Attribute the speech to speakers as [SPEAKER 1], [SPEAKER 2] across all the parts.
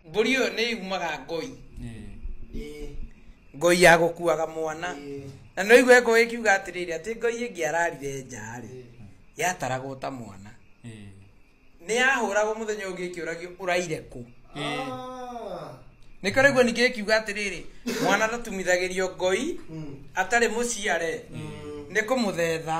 [SPEAKER 1] mbũri ĩyo nĩ yumaga ngoi ngoi ya gũkuaga mwana na nĩ ũigua ngoi ĩkiuga atĩrĩrĩ atĩ ngoi ĩngĩ ararire nja rĩ yataragwo ta mwana nĩ yahũragwo mũthenya ũngĩ ĩkĩũragio ũraire kũ nä koraguo ningä ä kiuga atä rä rä mwana ndatumithagä rio ngoi atarä må ciare nä kå må thetha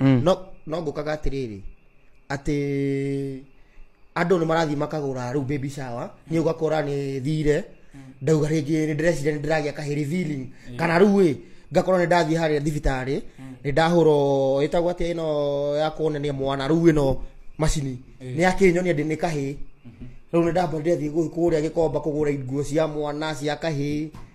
[SPEAKER 2] mm. no no ngukaga atiriri ati andu ni marathi makagura riu baby shower ni ugakora ni thire ndauga ringi ni ndirecira ni ndiragia ka revealing kana riu wi ngakorwo ni ndathi haria thibitari ni ndahuro itagwo ati ino ya kuonania mwana riu ino macini ni akinyonia ndi ni kahi riu ni ndamba ndirethi kuria gikomba kugura nguo cia mwana cia kahi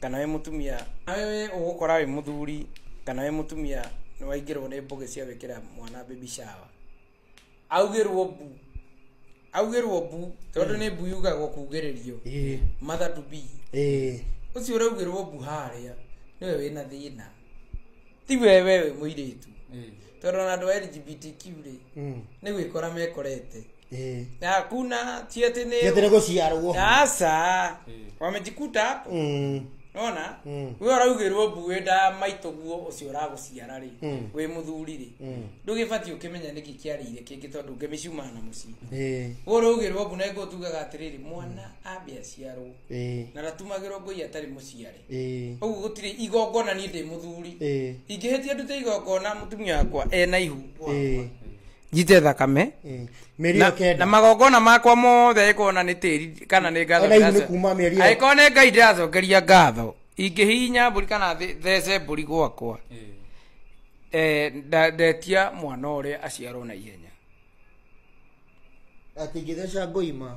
[SPEAKER 1] kana wĩ mũtumia nawe wĩ ũgũkora wĩ mũthuri kana wĩ mũtumia nĩ waingĩrwo nĩ mbũgĩ cia gwĩkĩra mwana baby shower augĩrwo mbu augĩrwo mbu tondũ nĩ mbu yugagwo kugĩrĩrio Ĩĩ, mother to be ĩĩ. ũcio ũraugĩrwo mbu harĩa nĩwe wĩna thĩna ti wewe wĩ mũirĩtu tondũ ona andũ a lgbtq rĩ Mm. nĩ gwĩkora mekorete Eh. Na hakuna si ati ni- Yatene gũciarwo.
[SPEAKER 2] aca
[SPEAKER 1] wamejikuta hapo Mm. nona Mm. we ũraugĩrwo mbuĩ nda maitũguo ũcio ũragũciara rĩ Mm. wĩ mũthuri rĩ Mm. ndũgĩbatiĩ ũkĩmenya nĩkĩ kĩarĩire kĩngĩ tondũ ngĩmĩcuma na mũciĩ Eh. we ũraugĩrwo mbu naĩ ngũtugaga atĩrĩrĩ mwana ambe aciarwo Eh. na ndatumagĩrwo ngũi atarĩ mũciare Eh. ũguo gũtirĩ igongona niĩ ndĩ mũthuri Eh. ingĩhĩtia ndute igongona mũtumia wakwa ena ihu Eh. njite thakame Mm. mĩeri na, ĩyo na kenda magongona makwa mothe angĩkorwo na nĩ tĩri kana nĩ ngatho Ona hihi ndĩraco- nĩ kuuma mĩeri ĩyo. angĩkorwo nĩ ngai ndĩracokeria ngatho ingĩhihinya mbũri kana thĩ- thece mbũri gwakwa eh, nda- ndetia mwana ũrĩa aciarwo na ihenya
[SPEAKER 2] atingĩtheca ngoima